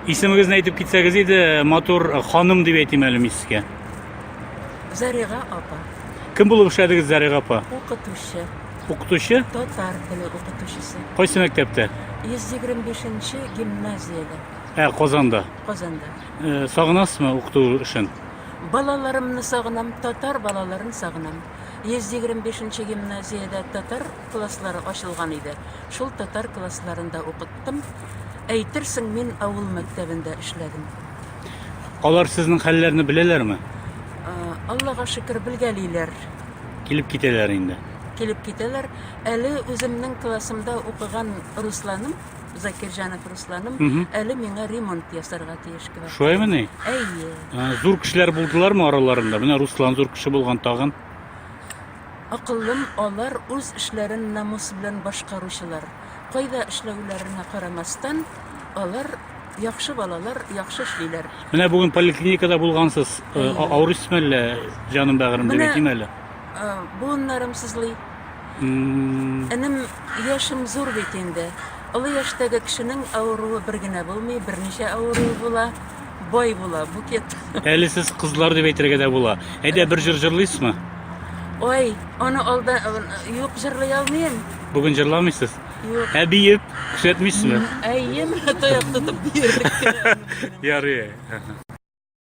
Исемегезне әйтеп китсәгез иде, матур ханым дип әйтим әле мин сезгә. Заряга апа. Кем булып эшләдегез Заряга апа? Укытучы. Укытучы? Татар теле укытучысы. Кайсы мәктәптә? 125-нче гимназиядә. Ә, Казанда. Казанда. Э, сагынасызмы укыту эшен? Балаларымны сагынам, татар балаларын сагынам. 125-нче гимназиядә татар татар класслары ачылган иде. Шул татар классларында укыттым. Әйтерсең, мин авыл мәктәбендә эшләдем. Алар сезнең хәлләрне беләләрме? А, Аллага шөкер, белгәлиләр. Килеп китәләр инде. Килеп китәләр. Әле үземнең классымда укыган Русланым, Закирҗанов Русланым, Мгм. әле миңа ремонт ясарга тиеш квартира. Шулаймы ни? Әйе. А, Зур кешеләр булдылармы араларында? Менә Руслан зур кеше булган тагын. Акыллым, алар үз эшләрен намус белән башкаручылар. Кайда эшләүләренә карамастан, алар яхшы балалар, яхшы эшлиләр. Менә бүген поликлиникада булгансыз. Э, а- Авырыйсызмы әллә? Җаным бәгырем Менә- дигән әле. Э, Буыннарым сызлый. М, Энем, яшем зур бит инде. Олы яшьтәге кешенең авыруы бер генә булмый, берничә авыру була. Бай була, букет. Әле сез кызлар дип әйтергә дә була. Әйдә бер җыр җырлыйсызмы? Ой, аны алда юк җырлый алмыйм. Бүген җырламыйсыз? Юк. Ә биеп күрсәтмисезме? Әйем, таяк тотып биерлек. Ярый.